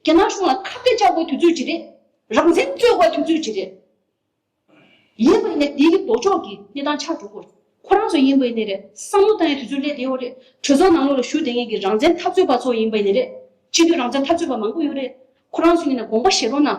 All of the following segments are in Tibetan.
རྒྱ་ནག་གཞུང་ལ་ཁ་བརྡ་བཅག་དགོས་དུས་ཚོད་ཅི་རེད། རང་བཙན་རྩོད་དགོས་དུས་ཚོད་ཅི་རེད། ཡིན་པ་ཡིན་ནས་དེའི་ལྡོག་ཕྱོགས་ཀྱི་གནས་སྟངས་ཆགས་འགྲོ་སྐོར། ཁོ་རང་ཚོ་ཡིན་པ་ཡིན་ནས་རེད་བསམ་བློ་བཏང་ཡོད་དུས་ཚོད་སླེབས་བསྡད་ཡོད་རེད། གྲོས་ཚོགས་ནང་ལོགས་ལ་ཞུགས་བསྡད་མཁན་གྱི་རང་བཙན་འཐབ་རྩོད་པ་ཚོ་ཡིན་པ་ཡིན་ནས་རེད། སྤྱི་འཐུས་རང་བཙན་འཐབ་རྩོད་པ་མང་པོ་ཡོད་རེད། ཁོ་རང་ཚོ་ཡིན་ན་དགོངས་པ་བཞེས་རོགས་གནང།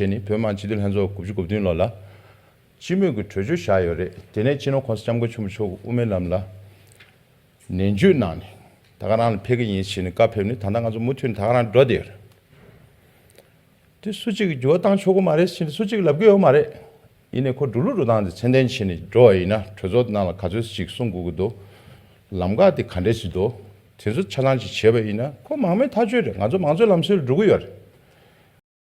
བཅས་ནི་བོད་དམངས་སྤྱི་འཐུས་ལྷན་ཚོགས་དགུ་བཅུ་དགུ་བདུན་ལོ་ལ། སྤྱི་མོས་ཀྱི་གྲོས་ཆོད་བཞག་ཡོད་རེད་དེ་ནས་སྤྱི་ནོར་ཁོང་ས་སྐྱབས་མགོན་ཆེན་པོ་མཆོག་གི་དབུ་མའི་ལམ་ལ། ནན་བརྗོད་གནང་ནས་ད་ག་རང་ལ་ཕེབས་ཀྱི་ཡིན་ཞེས་ནས་བཀའ་ཕེབས་ནས་ད་ལྟ་ང་ཚོ་མུ་མཐུད་ནས་ད་ག་རང་འགྲོ་བསྡད་ཡོད་རེད། དེ་སུ་གཅིག་གིས་འགྱུར་བ་བཏང་ཆོག་གི་མ་རེད་ཅེས་ནས་སུ་གཅིག་ལབ་ཀྱི་ཡོད་མ་རེད། ཡིན་ནས་ཁོ་འགྲོ་ལུགས་འགྲོ་སྟངས་དེ་མཚན་ལྡན་བྱས་ནས་འགྲོ་བ་ཡིན་ན་གྲོས་ཚོགས་ནང་ལ་ག་ཚོད་ཅིག་གསུང་དགོས་ཀྱི་འདུག་ལམ་ཁ་དེ་ག་འདྲས་ཅིག་འདུག་དེ་ཚོ་ཆ་ཚང་ཅིག་བྱས་པ་ཡིན་ན་ཁོ་མང་མོས་ཐག་གཅོད་རེད་ང་ཚོ་མང་གཙོའི་ལམ་སྲོལ་ལ་འགྲོ་གི་ཡོད་རེད།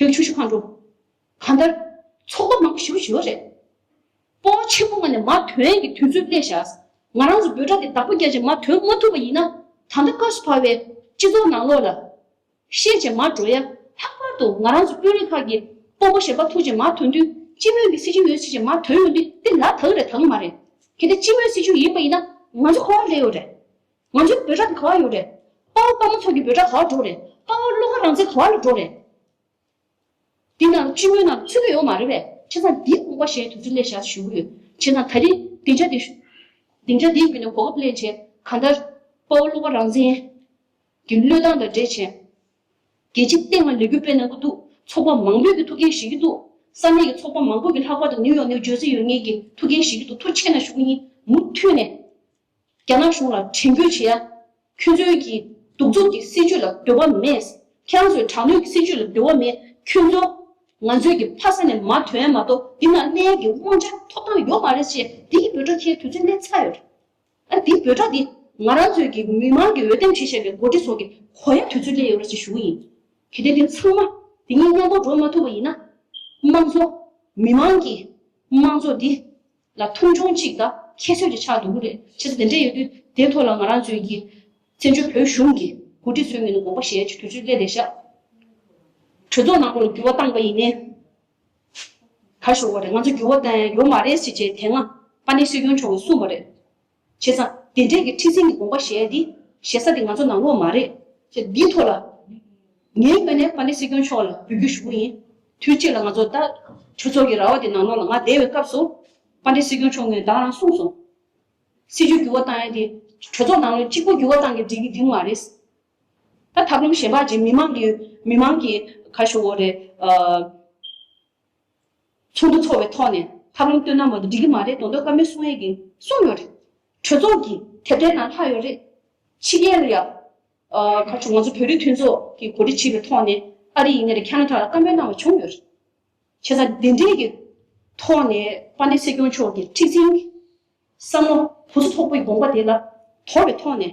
བོད་ཆུ་ཤུ་ཁང་འགྲོ། གང་ལྟར། ཚོགས་འདུ་མང་པོ་ཞུ་ཞུ་རེད། སྤོ་བོ་ཆེན་པོ་ངོ་ནས་མ་དོན་གྱི་དུས་ཚོད་སླེ་ཞག། ང་རང་ཚོ་འབོད་སྒྲ་དེ་བདག་པོ་རྒྱ་ཆེ་མ་དོན་མ་ཐུབ་པ་ཡིན་ན། ད་ལྟ་དཀའ་སུ་བར་བའི། སྤྱི་ཚོགས་ནང་ལོག་ལ། ཤེས་བྱེད་མར་འགྲོ་ཡ། ལྷག་པར་དུ་ང་རང་ཚོ་དཔོན་རིགས་ཁག་གི། སྤོ་བོ་ཞེ་དཔའ་ཐུགས་ཆེ་མ་དོན་དུས་སྤྱི་མོས་ཀྱི་སྲི་ཇུས་ཡོད་སྲི་ཇེ་མ་དོན་ཡོད་འདི་དེ་ལ་དག་རེད་དང་མ་རེད། གལ་ཏེ་སྤྱི་མོས་སྲི་ཇུས་ཡིན་པ་ཡིན་ན། ང་ཚོ་ཁོ་བ་ལས་ཡོད་རེད། ང་ཚོའི་འབོད་སྒྲ་ག་བར་ཡོད་རེད། དཔའ་བོ་དཔའ་མོ་ཚོ་གི་འབོད་སྒྲ་ག་བར་འགྲོ་རེད། དཔའ་བོ་བློ་དགའ་རང་བཙན་ག་བར་ལ་འགྲོ་རེད། འདི་ནང་སྤྱི་མོས་ནང་ཚུད་ཀྱི་ཡོད་མ་རེད་པས་ཁྱེད་ཚང་འདིའི་དགོངས་པ་གཞན་དུས་ཚོད་ལས་ཤར་བཞུགས་ཀྱི་ཡོད། ཁྱེད་ཚང་ད་རེས་སྡིངས་ཆ་འདི། སྡིངས་ཆ་འདིའི་བརྒྱུད་ནས་གོ་སྐབས་གླེང་བྱས་ག་འདྲ། དཔའ་བོ་བློ་དགའ་རང་བཙན་གི་བློས་བཏང་དང་འབྲེལ་བྱས། རྒྱལ་སྤྱིའི་སྟེང་ལ་ལས་འགུལ་སྤེལ་གནང་གི་འདུག་ཚོགས་པ་མང་པོས་ཀྱི་ཐུགས་འགན་བཞེས་ཀྱི་འདུག་ས་གནས་ཀྱི་ཚོགས་པ་མང་པོས་ཀྱི་ལྷག་པར་དུ་ནིའུ་ཡོག་ནིའུ་ཇོས་སི་ཡོད་ངེས་ཀྱི་ཐུགས་འགན་བཞེས་ཀྱི་འདུག་ཐུགས་ཆེ་ན་ཞུ་གི་ཡིན་མུ་མཐུད་ནས། རྒྱ་ནག་གཞུང་ལ་དྲན་སྐུལ་བྱེད་ཡ། ཁྱོད་ཚོའི་གྱི་གདུག་རྩུབ་ཀྱི་སྲིད་ཇུས་ལ་འདོད་པ་མེད། ཁྱེད་རང་ཚོའི་དྲག་གནོན་གྱི་སྲིད་ཇུས་ལ་འདོད་བ་མེད། ཁྱོད་ཚོ། ང་ཚོའི་གྱི་ཕ་ས་ནས་མ་ཐོན་མ་གཏོགས་འདི་ན་གནས་ཡ་གྱི་དབང་ཆ་ཐོབ་ཐང་ཡོད་མ་རེད་ཅེས་འདི་གྱི་འབོད་སྒྲ་འཁྱེར་དུས་ཚོད་གནས་ཚར་ཡོད་རེད། ཨ་འདི་འབོད་སྒྲ་འདི་ང་རང་ཚོའི་གྱི་མི་མང་གྱི་འོས་འདེམས་བྱེད་བཞེད་པའི་མགོ་ཁྲིད་ཚོ་གྱི་གོ་ཡ་དུས་ཚོད་སླེ་ཡོད་རེད་ཅེས་ཞུ་གི་ཡིན། གལ་ཏེ་འདི་ཚང་མ་འདི་གཉིས་མཉམ་པོར་འགྲོ་མ་ཐུབ་པ་ཡིན་ན། དམངས་གཙོ། མི་མང་གྱི་དམངས་གཙོ་འདི། ལ་ཐུང་ཆུང་གཅིག་དང་ཁྱད་གསོད་ཀྱི་ཆགས་འདུག་གི་རེད་ཆེ་ས་དེ་འདྲས་ཡོད་དུས་དེ་ཐོག་ལ་ང་རང་ཚོའི་གི་བཙན་བྱོལ་བོད་གཞུང་གི་འགོ་ཁྲིད་ཚོའི་ངོས་ནས་དགོངས་པ་བཞེས་ཕྱིར་དུས་ཚོད་སླེ་བསྡད་ཤག་གྲོས་ཚོགས་ནང་ཁོང་འགྱུར་བ་བཏང་པ་ཡིན་ནའི་ག་ཞོག་པ་རེད་ང་ཚོ་འགྱུར་བ་བཏང་ཡ་ཡོ་མ་རེད་ཟེར་བྱས་དེ་སྔ་པ་ནེ་སི་རྒྱུན་མཆོག་གིས་གསུངས་པ་རེད་བྱས་ཙང། དེ་འབྲེལ་གྱི་ཁྲི་སེང་གི་དགོངས་པ་གཞལ་ཏེ། ཞེ་ས་དེ་ང་ཚོ་ནང་ལོག་མ་རེད། ཅེས་འདིའི་ཐོག་ལ། ངས་བསྐོས་ནས་པཱ་ལེ་སྲིད་སྐྱོང་མཆོག་ལ་འབུལ་རྒྱུ་ཞུ་གི་ཡིན། དུས་གཅིག་ལ་ང་ཚོ་ད། ཆོས་ཚོགས་ཀྱི་ར་བ་དེ་ནང་ལོག་ལ་ང་བསྡད་བའི་སྐབས་སུ། པཱ་ལེ་སྲིད་སྐྱོང་མཆོག་ངས་བདག་རང་གསུངས་སོང། སྲིད་བྱུས་འགྱུར་བ་བཏང་ཡ་དེ། གྲོས་ཚོགས་ནང་ལོག་གཅིག་པོ་འགྱུར་བ་བཏང་གི་འགྲིག་གི་འགྲིག་མ་རེད། ད་ཐབས་ལམ་གཞན་པ་གཅིག་མི་མང་གི། མི་མང་གི། ཁ་ཤོ་བོ་རེད། ཚོགས་འདུ་འཚོགས་པའི་ཐོག་ནས་ལྷ་ལུང་སྟོད་ན་མ་འདུག་འགྲིག་གི་མ་རེད་དོ་མདོ་དཀར་མོའི་གསུང་ཡིག་གིས་གསུངས་ཡོད་རེད། གྲོས་ཚོགས་ཀྱི་དེབ་ཐེར་ནང་ལྷག་ཡོད་རེད། ཕྱི་རྒྱལ་ལ་ཡང། ག་ཚོད་ང་ཚོ་བོད་རིགས་མཐུན་ཚོགས་ཀྱི་གོ་སྒྲིག་བྱས་པའི་ཐོག་ནས་ཨ་རི་ཡིན་ན་རེད་ཁྱ་ན་དྲ་ལ་བཀའ་མོལ་གནང་བ་བྱུང་ཡོད་རེད། བྱས་ཙང་དེ་འབྲེལ་གྱི་ཐོག་ནས་པ་འདི་སྲིད་སྐྱོང་མཆོག་གི་མཁྲིག་འཛིན་གྱི་བསམ་བློ་བུ་ཚོ་ཚོགས་པའི་དགོངས་པ་དེ་ལ་དོར་བའི་ཐོག་ནས།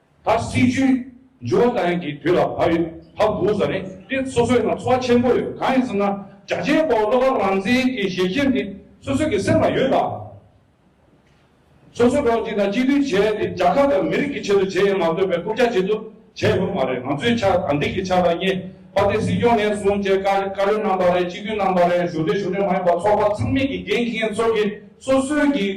ད་སྲིད་ཇུས་འཇོག་སྟངས་ཀྱི་དུས་ལ་བབས་ཡོད་བབས་འདུག་ཟེར་ནས་དེ་སོ་སོའི་ནང་ཚོགས་ཆེན་པོ་ཡོད་གང་ཡིན་ཟེར་ན་རྒྱ་ཆེའི་བོད་བློ་དགའ་རང་བཙན་གྱི་ཞལ་ཁྱེར་འདི་སོ་སོ་གྱི་སེམས་ལ་ཡོད་ལ། སོ་སོ་རོགས་གཅིག་དང་གཅིག་མཐུན་བྱས་ཏེ་རྒྱ་གར་དང་མི་རིགས་ཀྱི་ཆེད་དུ་བྱེད་ཡ་མ་འདོད་པའི་རྐུབ་བཀྱག་བྱེད་དུ་བྱས་ཡོད་མ་རེད་ང་ཚོའི་ཆ་དང་འདི་གི་ཆ་ལ་བསྙད་པ་དེ་སྲིད་སྐྱོང་ནས་བཟུང་བཅས་བཀའ་བཀའ་བློན་རྣམ་པ་རེད་སྤྱི་འཐུས་རྣམ་པ་རེད་གཞུང་འབྲེལ་གཞུང་འབྲེལ་མ་ཡིན་པ་ཚོགས་པ་ཚང་མིག་གི་འགན་འཁྱེན་ཚོགས་ཀྱི་སོ་སོའི་གི་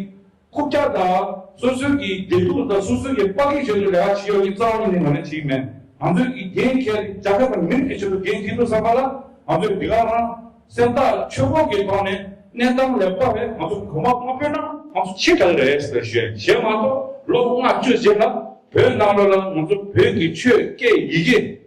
ཁུག་རྒྱ་དང་སོ་སོའི་གི་འབྲེལ་གཏུག་དང་སོ་སོའི་གི་པག་གི་ཆེད་དུ་ལས་ཀ་བྱེད་ཡོག་གི་རྩ་བ་ཉིད་ནས་ང་ནི་བྱེད་ཀྱི་མེད། ང་ཚོའི་གི་འགན་ཁྱེད་རྒྱ་གར་དང་མིར་གི་ཆེད་དུ་འགན་ཁྱེད་འདུག་བསམ་པ་ལ་ང་ཚོས་འདི་ག་རང་སེམས་ཐག་ཆོད་པོ་གི་ཐོག་ནས་གནས་སྟངས་ལེགས་པ་རེད་ང་ཚོ་གོང་མ་དངོས་པོའི་ནང་ང་ཚོ་ཆེ་དྲག་རེད་ཟེར་བཞེད་བཞེད་མ་གཏོགས་ལོ་ལྔ་བཅུ་རྗེས་ལ་བོད་ནང་ལོ་ལ་ང་ཚོ་བོད་གི་ཆོས་སྐད་ཡི་གེ།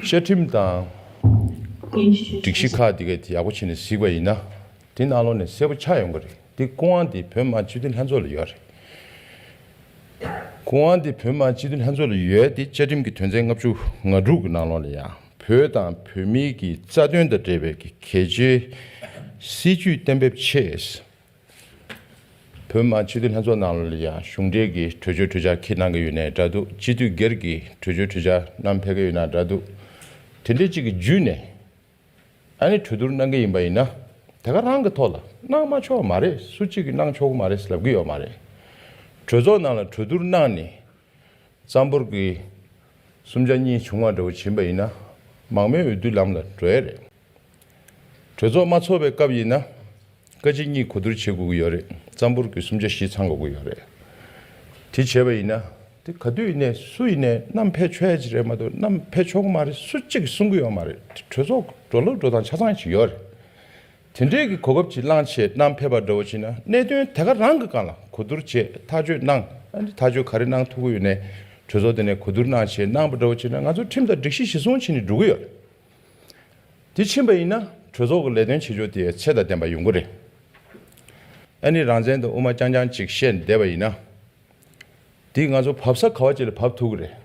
བཅའ་ཁྲིམས་དང། སྒྲིག་གཞི་ཁག་འདི་ག་དེ་ཡག་པོ་བྱས་ནས་གཟིགས་པ་ཡིན་ན། དེ་གནའ་ལོ་ནས་གསལ་པོ་ཆགས་ཡོང་གི་རེད་དེ་སྐུ་དབང་དེ་བོད་དམག་སྤྱི་འཐུས་ལྷན་ཚོགས་ལ་ཡོད་རེད། སྐུ་དབང་དེ་བོད་དམག་སྤྱི་འཐུས་ལྷན་ཚོགས་ལ་ཡོད་དེ་བཅའ་ཁྲིམས་ཀྱི་དོན་ཚན་ལྔ་བཅུ་ང་དྲུག་གི་ནང་ལོགས་ལ་ཡང་བོད་དང་བོད་མིའི་གི་རྩ་དོན་དང་འབྲེལ་བའི་གི་གལ་ཆེའི་སྲིད་ཇུས་གཏན་འབེབས་ཆེད། བོད་དམངས་སྤྱི་འཐུས་ལྷན་ཚོགས་ནང་ལ་ཡང་གཞུང་འབྲེལ་གྱི་གྲོས་ཆོད་གྲོས་འཆར་ཁྱེད་གནང་གི་ཡོད་ནའི་འདྲ་འདུག་སྤྱི་འཐུས་སྒེར་གྱི་གྲོས་ཆོད་གྲོས་འཆར་གནང་ཕེབས་ཀྱི་ཡོད་ནའི་འདྲ་འདུག་དེ་འདྲའི་གཅིག་གི་བརྒྱུད་ནས་ཨ་ནེ་གྲོས་བསྡུར་གནང་གི་ཡིན་པ་ཡིན་ན་དེ་ག་རང་གི་ཐོག་ལ་གནང་མ་ཆོག་མ་རེད་སུ་གཅིག་གི་གནང་ཆོག་གི་མ་རེད་ལབ་གི་ཡོད་མ་རེད། གྲོས་ཚོགས་ནང་ལ་གྲོས་བསྡུར་གནང་ནས་རྩམ་པོར་གྱི་སུམ་ཆ་གཉིས་བྱུང་བ་འདྲ་བོ་བྱིན་པ་ཡིན་ན་མང་མོས་འོས་བསྡུའི་ལམ་ལ་འགྲོ་ཡས་རེད། གྲོས་ཚོགས་མ་ཚོགས་པའི་སྐབས་ཡིན་ན། བཀའ་སྤྱི་གཉིས་གོ་བསྡུར་བྱེད་དགོས་ཀྱི་ཡོད་རེད་རྩམ་ཕུར་གྱི་སུམ་ཆ་བཞི་ཚང་དགོས་ཀྱི་ཡོད་རེད། དེ་བྱས་པ་ཡིན་ན། དེ་ག་དུས་ཡིན་ནས་སུ་ཡིན་ནས་གནམ་བྷེ་ཆོས་ཧེ་རེད་མ་གཏོགས་གནམ་བྷེ་ཆོ་ག་མ་རེད་སུ་གཅིག་གིས་གསུང་གི་ཡོད་མ་རེད་དེ་གྲོས་ཚོགས་འགྲོ་ལུགས་འགྲོ་སྟངས་ཆ་ཚང་ཞིག་ཡོད་རེད། དེ་འདྲའི་གི་གོ་སྐབས་ཀྱི་བླང་བྱས་གནམ་བྷེ་པ་འདྲ་བོ་བྱིན་ན་གནད་དོན་དེ་ག་རང་གི་གང་ལ་གོ་བསྡུར་བྱས་ཐག་གཅོད་གནང་ཨ་ནི་ཐག་གཅོད་ག་རེ་གནང་ཐུབ་ཀྱི་ཡོད་ནས་གྲོས་ཚོགས་དེ་ནས་གོ་བསྡུར་གནང་བྱས་གནང་པ་འདྲ་བོ་བྱིན་ན་ང་ཚོ་ཁྲིམས་དང་སྒྲིག་གཞི་གཞི་བཟུང་བྱེད་ནས་འགྲོ་གི་ཡོད་རེད། དེ་ཕྱིན་པ་ཡིན་ན་གྲོས་ཚོགས་ཀྱི་ལས་དོན་བྱེད་ཕྱོགས་དེ་ཚད་དང་ལྡན་པ་ཡོང་གི་རེད། ཨ་ནི་རང་བཙན་དང་དབུ་མ་རྐྱང་རྐྱང་ཅིག་བཤད་བསྡད་པ་ཡིན་ན། དེས་ང་ཚོ་བབས་ས་ག་བ་ཅིག་ལ་བབས་ཐུབ་ཀྱི་རེད།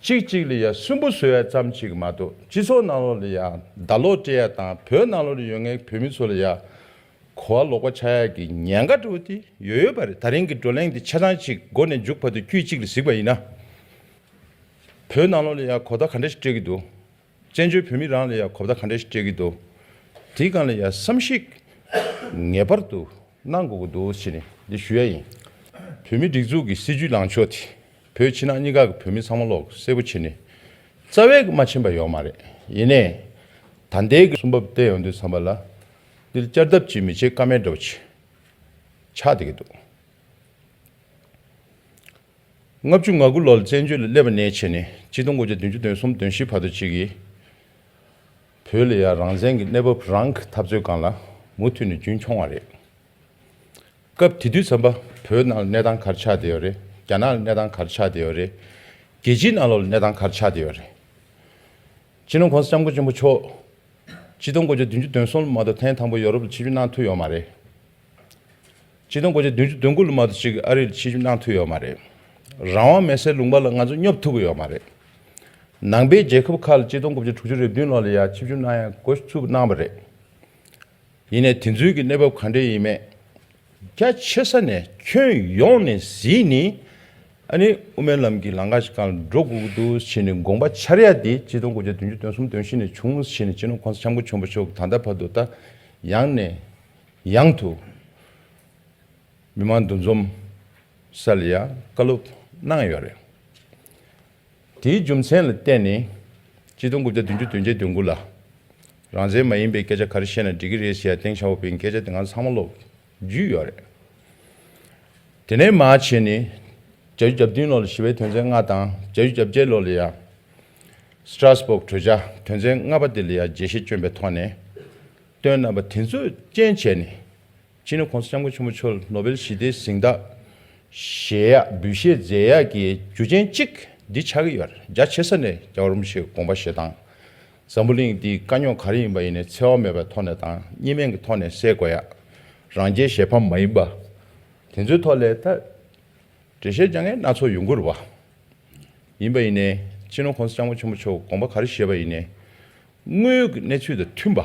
གཅིག་གཅིག་ལ་ཡང་སུན་པོ་བཟོ་ཡ་ཙམ་ཅིག་གི་མ་གཏོགས་སྤྱི་ཚོགས་ནང་ལོགས་ལ་ཡང་བརྡ་ལོག་སྤྲད་ཡ་དང་བོད་ནང་ལོགས་ལ་ཡོད་ངེས་བོད་མི་ཚོ་ལ་ཡང་གོ་བ་ལོག་པ་ཆགས་ཡ་གི་ཉེན་ཁ་དྲོ་དེ་ཡོད་ཡོད་པ་རེད་ད་རིང་གི་བགྲོ་གླེང་དེ་ཆ་ཚང་ཅིག་སྒོ་ནས་མཇུག་བར་དུ་དཀྱུས་གཅིག་ལ་གཟིགས་པ་ཡིན་ན། བོད་ནང་ལོགས་ལས་ཡག་གོ་བརྡ་ག་འདྲ་ཞིག་སྤྲད་ཀྱི་འདུག་བཙན་བྱོལ་བོད་མི་རང་ལས་ཡག་གོ་བརྡ་ག་འདྲ་ཞིག་སྤྲད་ཀྱི་འདུག་དེའི་སྒང་ལ་ཡ་བསམ་གཞིག་ངེས་པར་དུ་གནང་དགོས་ཀྱི་འདུག་ཅེས་ནས་འདི་ཞུ་ཡ་ཡིན། བོད་མིའི་སྒྲིག་འཛུགས་ཀྱི་སྲིད་བྱུས་ལངས་ཕྱོགས་དེ་བོད་ཕྱི་ནང་གཉིས་ཀ་གི་བོད་མི་ཚང་མ་ལོག་གསལ་པོ་བྱེད་ནས་རྩ་བའི་གི་མ་ཕྱིན་པ་ཡོག་མ་རེད་ཡིན་ནས་ད་ལྟའི་གི་གསུམ་བབ་བསྟན་ཡོང་དུས་བསམ་པ་ལ་འདི་ལ་བསྐྱར་ལྡབ་ཅིག་མི་བྱེད་ཀ་མེད་འདྲ་པོ་ཆགས་བསྡད་ཀྱི་འདུག། ལྔ་བཅུ་ང་དགུ་ལོར་བཙན་བྱོལ་ལ་སླེབས་པ་ནས་ཕྱི་ནས་སྤྱི་སྟོང་དགུ་བརྒྱ་བདུན་ཅུ་དོན་གསུམ་དོན་བཞི་བར་དུ་གཅིག་གིས་བོད་ལ་ཡང་རང་བཙན་གྱི་གནས་བབ་རང་གི་འཐབ་རྩོད་སྒང་ལ་མུ་མཐུད་ནས་རྒྱུན་འཁྱོངས་བ་རེད། སྐབས་དེ་དུས་བསམ་པ་བོད་ནང་ལ་གནས་སྟངས་གར་ཆགས་བསྡད་ཡོད་རེད་རྒྱ་ནག་ལ་གནས་སྟངས་གར་ཆགས་བསྡད་ཡོད་རེད་རྒྱལ་སྤྱིའི་ནང་ལོགས་ལ་གནས་སྟངས་གར་ཆགས་བསྡད་ཡོད་རེད། སྤྱི་ནོར་གོང་ས་ལྕམ་སྐུ་ཆེན་པོ་མཆོག་སྤྱི་སྟོང་དགུ་བརྒྱ་བདུན་ཅུ་དོན་གསུམ་ལ་མ་གཏོགས་ཐེངས་དང་པོ་ཡོ་རོབ་ལ་ཕྱི་བྱོལ་གནང་ཐུབ་ཡོད་མ་རེད། སྤྱི་སྟོང་དགོས་ཆེད་བདུན་ཅུ་དོན་དགུ་ལུ་མ་དུ་ཅིག་ཨ་རིར་ཕྱི་བཅུ་གནང་ཐུབ་ཡོད་མ་རེད། རང་དབང་མེད་སའི་ལུང་པ་ལ་ང་ཚོ་སྙོབ་ཐུབ་ཀྱི་ཡོད་མ་རེད། ནང་པའི་རྒྱལ་ཁབ་ཁག་ལ་སྤྱི་སྟོང་དགུ་བརྒྱ་དྲུག་ཅུ་རེ་བདུན་ལོག་ལ་ཡང་ཕྱི་བཅུ་གནང་ཡ་དགོས་ཚུལ་གནང་བ་རེད། ཡིན་ནས་དེ་ཚུལ་གྱི་གནས་བབ་ག་འདྲས་ཡིན་མེད་རྒྱ་ཆེ་ས་ནས་ཁྱོན་ཡོངས་ནས་གཟིགས་ནི་ཨ་ནི་དབུ་མའི་ལམ་གྱི་ལང་ཀ་ཞིག་གང་ལ་འགྲོ་དགོས་འདུག་བྱས་ནས་དགོངས་པ་འཆར་ཡ་དེ་སྤྱི་སྟོང་དགུ་བརྒྱ་བདུན་ཅུ་དོན་གསུམ་དོན་བཞི་ནས་བྱུང་བྱས་ནས་སྤྱི་ནོར་ཁོང་ས་འཆམ་གོ་ཆོན་པོ་ཤོག་གི་ད་ལྟ་བར་དུ་ད་ཡང་ནས་ཡང་དུ། མི་མང་འདུ་འཛོམས་སར་ལ་ཡ་བཀའ་སློབ་གནང་ཡོད་རེད། དེའི་རྒྱུ་མཚན་ལ་བརྟེན་ནས་སྤྱི་སྟོང་དགུ་བརྒྱ་བདུན་ཅུ་དོན་བརྒྱད་དོན་དགུ་ལ། རང་བཙན་མ་ཡིན་པའི་སྐད་ཆ་ག་རེ་བཤད་ན་འགྲིག་གི་རེད་ཞེས་སྟེང་ཤ་བོ་པའི་སྐད་ཆ་དེ་འང་ཚང་མ་ཀློག་བརྒྱུད་ཡོད་རེད། དེ་ནས་མ་བྱས་ནས་གྱ་གྱུ་གྱ་བདུན་ལོར་ལ་ཞི་བའི་དོན་ཚན་ལྔ་དང་གྱ་གྱུ་གྱ་བརྒྱད་ལོར་ལ་ཡ། Strasbourg། གྲོས་འཆར་དོན་ཚན་ལྔ་པ་དེ་ལ་ཡ་རྒྱས་བཤད་བསྐྱོན་པའི་ཐོག་ནས། སྟོན་རྣམ་པ་དེ་ཚོས་རྐྱེན་བྱས་ནས་ཕྱི་ནས་ཁོང་ཚོ་ལྕམ་སྐུ་ཆེན་པོ་མཆོག་ལ་ནོ་སྦེལ་ཞི་བདེའི་གཟེངས་རྟགས་བཞེས་ཡག་འབུལ་བཞེས་མཛད་ཡག་གི་རྒྱུ་རྐྱེན་གཅིག་འདི་ཆགས་ཀྱི་ཡོད་རྒྱ་ཆེ་ས་ནས་རྒྱ་རོམ་ཞེས་དགོངས་པ་བཞེས་སྟངས་འཛམ་བུ་གླིང་འདིའི་དཀའ་རྙོག་ག་རེ་ཡིན་པ་ཡིན་ནས་འཚེ་བ་མེད་པའི་ཐོག་ནས་དང་གཉིས་སྨན་གྱི་ཐོག་ནས་སེལ་དགོས་ཡག་རང་རྒྱལ་གཞས་ཕམ་མ་ཡིན་པ་དེ་ཚོའི་ཐོག་ལས་ད་འབྲེལ་བཤད་རྒྱ་ངན་སྣ་ཚོགས་ཡོང་གི་རུ་བ་ཡིན་པ་ཡིན་ནས་ཕྱི་ནས་ཁོང་ཚོ་ལྕམ་སྐུ་ཆེན་པོ་མཆོག་དགོངས་པ་ག་རེ་བཞེས་པ་ཡིན་ནས། དངོས་ཡོད་ཀྱི་གནས་ཚུལ་དང་མཐུན་པ།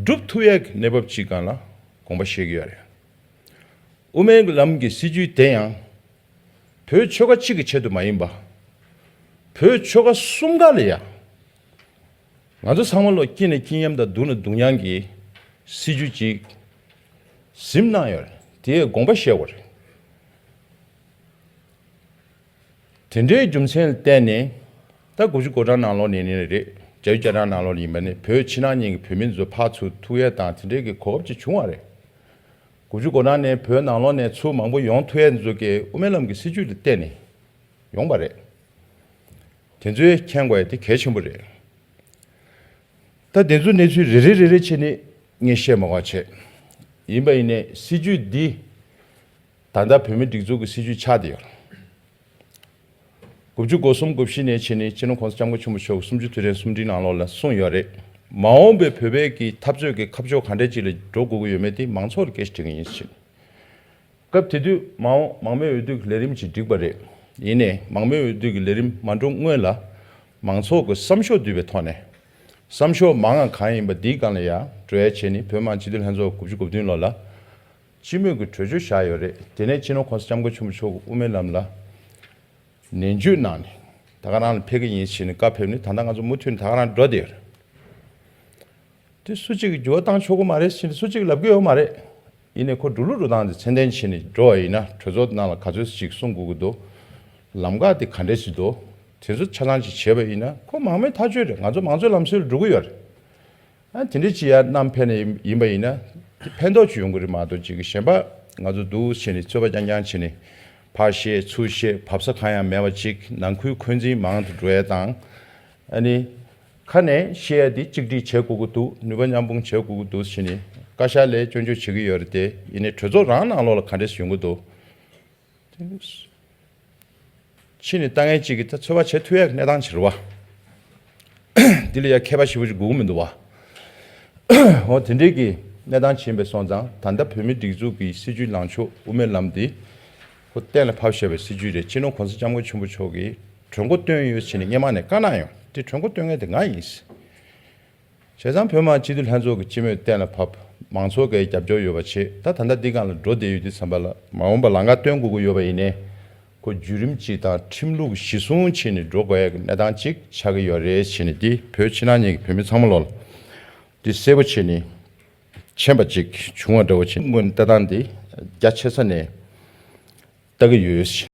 སྒྲུབ་ཐུབ་ཡས་ཀྱི་གནས་བབ་ཅི་གང་ལ་དགོངས་པ་བཞེས་ཀྱི་ཡོད་རེད། དབུ་མའི་ལམ་གྱི་སྲིད་བྱུས་དེ་ཡང། བོད་ཆོལ་ཁ་གཅིག་གི་ཆེད་དུ་མ་ཡིན་པར། བོད་ཆོལ་ཁ་གསུམ་ཀ་ལ་ཡང། ང་ཚོ་ཚང་མ་ལོ་དཀྱིལ་ནས་དཀྱིལ་མཉམ་དང་སྡུག་ནས་སྡུག་མཉམ་གྱི་སྲིད་བྱུས་གཅིག་གཟིམ་གནང་ཡོད་རེད་དེ་ཡས་དགོངས་པ་བཞེས་དགོས་རེད། དེ་འདྲའི་རྒྱུ་མཚན་བསྟན་ནས། ད་དགུ་བཅུ་གོ་གྲངས་ནང་ལོགས་ནས་ནི་རེད། བརྒྱ་ཡུ་བརྒྱ་གྲངས་ནང་ལོགས་ནས་ཡིན་པ་ནི་བོད་ཕྱི་ནང་གཉིས་ཀྱི་བོད་མི་ཚོ་ཕག་ཚུལ་ཐུགས་ཡས་དང་དེ་འདྲའི་གི་གོ་བབ་ཅིག་བྱུང་བ་རེད། དགུ་བཅུ་གོ་གྲངས་ནས་བོད་ནང་ལོགས་ནས་ཚུལ་མང་པོ་ཡོང་ཐུགས་ཡས་ཚོ་གི་དབུ་མའི་ལམ་གི་སྲིད་བྱུས་ལ་བརྟེན་ནས་ཡོང་པ་རེད། དེ་ཚོའི་མཁྱེན་དགོས་དེ་གལ་ཆེན་པོ་རེད། ད་དེ་ཚོའི་གནས་ཚུལ་རེ་རེ་རེ་རེ་ཆེད་ནི་ངས་བཤད་མ་དགོས་བྱས། ཡིན་པ་ཡིན་ནས་སྲིད་བྱུས་འདི། ད་ལྟ་བོད་མིའི་སྒྲིག་འཛུགས་ཀྱི་སྲིད་བྱུས་ཆགས་བསྡད་ཡོད། དགུ་བཅུ་གོ་གསུམ་གོ་བཞི་ནས་ཕྱི་ནས་སྤྱི་ནོར་ཁོང་ས་ལྕམ་སྐུ་ཆེན་པོ་མཆོག་གིས་སུམ་ཅུ་དུས་དྲན་གསུམ་བསྒྲིགས་གནང་ལོག་ལ་གསུངས་ཡོད་རེད། མ་འོངས་པའི་བོད་པའི་གི་འཐབ་རྩོད་ཀྱི་ཁ་ཕྱོགས་ག་འདྲའི་ཅིག་ལ་འགྲོ་དགོས་ཀྱི་ཡོད་མེད་དེ་མང་ཚོགས་ཀྱི་སྐད་ཆ་དྲི་གི་ཡིན་ཕྱིན། སྐབས་དེ་དུས་མ་འོངས་མང་མོས་འོས་བསྡུ་གི་ལས་རིམ་ཅིག་བསྒྲིགས་པ་རེད། ཡིན་ནས་མང་མོས་འོས་བསྡུ་གི་ལས་རིམ་མ་འགྲོ་སྔོན་ལ། མང་ཚོགས་ཀྱི་བསམ་ཤོག་བསྡུས་པའི་ཐོག་ནས། བསམ་ཤོག་མང་ང་གང་ཡིན་པ་འདིའི་སྒང་ལ་ཡང་བྲོ་ཡ་བྱས་ནི་བོད་མང་སྤྱི་འཐུས་ལྷན་ཚོགས་དགུ་བཅུ་གོ་བདུན་ལོ་ལ། སྤྱི་མོས་ཀྱི་གྲོས་ཆོད་བཞག་ཡོད་རེད། དེ་ནས་ཕྱི་ནང་ཁོངས་སུ་ལྕམ་སྐུ་ཆེན་པོ་མཆོག་གིས་དབུ་མའི་ལམ་ལ་ནན་བརྗོད་གནང་ནས། ད་ག་རང་ལ་ཕེབས་ཀྱི་ཡིན་ཞེས་ནས་བཀའ་ཕེབས་ནས་ད་ལྟ་ང་ཚོ་མུ་མཐུད་ནས་ད་ག་རང་འགྲོ་བསྡད་ཡོད་རེད། དེ་སུ་གཅིག་གིས་འགྱུར་བ་བཏང་ཆོག་གི་མ་རེད་ཟེར་ནས་སུ་གཅིག་ལབ་ཀྱི་ཡོད་མ་རེད། ཡིན་ནས་ཁོ་འགྲོ་ལུགས་འགྲོ་སྟངས་དེ་མཚན་ལྡན་བྱས་ནས་འགྲོ་བ་ཡིན་ན་གྲོས་ཚོགས་ཀྱི་ནང་ལ་ག་ཚོད་ཅིག་གསུང་དགོས་ཀྱི་འདུག་ལམ་ཁ་དེ་ག་འདྲས་ཅིག་འདུག་དེ་ཚོ་ཆ་ཚང་ཅིག་བྱས་པ་ཡིན་ན་ཁོ་མང་མོས་ཐག་གཅོད་རེད་ང་ཚོ་མང་གཙོའི་ལམ་སྲོལ་ལ་འགྲོ་གི་ཡོད་རེད། དེ་འདྲའི་ལྕི་ཡ་རྣམ་ཕལ་ནས་ཡིན་པ་ཡིན་ན་དེ་ཕན་ཐོགས་ཅི་ཡོང་གི་རེད་མ་གཏོགས་ཅིག་གི་ཞེན་པ་ང་ཚོ་འདུག་བྱས་ནས་ཚོད་པ་རྐྱང་རྐྱང་བྱས་ནས་ཕར་བཤད་ཚུར་བཤད་བབས་ས་གང་ཡང་མེད་པ་ཅིག་ནང་ཁུལ་འཁོན་འཛིན་མང་དུ་འགྲོ་ཡ་དང་ཨ་ནི་ཁ་ནས་བཤད་ཡ་དེ་གཅིག་སྒྲིག་བྱེད་དགོས་ཀྱི་འདུག་ནུས་པ་མཉམ་སྤུངས་བྱེད་དགོས་ཀྱི་འདུག་བྱས་ནས་བཀའ་ཤག་ལས་སྐྱོན་བརྗོད་བྱེད་ཀྱི་ཡོད་རེད་དེ་ཡིན་ནས་གྲོས་ཚོགས་རང་ནང་ལོགས་ལ་ག་འདྲེས་ཡོང་གི་འདུག། ཕྱིས་ནི་ལྟ་ངན་གཅིག་གིས་ད་འཚོལ་བ་བྱེད་ཐུ་ཡག་གནས་སྟངས་ཆེར་བ། འདི་ལ་ཡ་མཁས་པ་ཞིག་པོ་ཅིག་སྒུག་གི་མི་འདུག་བ། འོ་དེ་འདྲིས་ཀྱི་གནས་སྟངས་ཕྱིན་པས་སོང་ཙང་ད་ལྟ་བོད་མིའི་སྒྲིག་འཛུགས་ཀྱི་སྲིད་ཇུས་ལངས་ཕྱོགས་དབུ་མའི་ལམ་འདི་ཧོ་གཏན་ལ་ཕབ་ཤར་བའི་སྲིད་ཇུས་རེད་སྤྱི་ནོར་གོང་ས་སྐྱབས་མགོན་ཆེན་པོ་མཆོག་གིས་གྲོས་མགོ་བཏོན་ཡོད་ཕྱིན་ནས་སྙེ་མང་ནས་བཀའ་གནང་ཡོང་དེ་གྲོས་མགོ་བཏོན་མཁན་དེ་ང་ཡིན། བྱས་ཙང་བོད་དམངས་སྤྱི་འཐུས་ལྷན་ཚོགས་ཀྱི་སྤྱི་མོས་གཏན་ལ་ཕབ། མང་ཚོགས་འགའི་རྒྱབ་སྐྱོར་ཡོད་པ་བྱེད་ད་ད་ལྟ་འདི་སྒང་ལ་འགྲོ་བསྡད་ཡོད་དུས་བསམ་པ་ལ། མ་འོངས་པར་ལང་ཀ་སྟོན་དགོས་ཀྱི་ཡོད་པ་ཡིན་ནས། ཁོ་བརྒྱུད་རིམ་གཅིག་དང་ཁྲིམས་ལུགས་གཞི་བཟུང་བྱས་ནས་འགྲོ་དགོས་ཡག་གི་གནས་སྟངས་གཅིག་ཆགས་ཀྱི་ཡོད་རེད་བྱས་ནས་འདི་བོད་ཕྱི་ནང་གཉིས་ཀྱི་བོད་མི་ཚང་མ་ལོག་ལ། འདི་གསལ་པོ་བྱས་ནས་མཆན་པ་གཅིག་བྱུང་བ་འདྲ་བོ་བྱས་ནས་སྔོན་ལྟ་སྟངས་འདི་རྒྱ་ཆེ་ས་ནས་ལྟ་གི་ཡོད།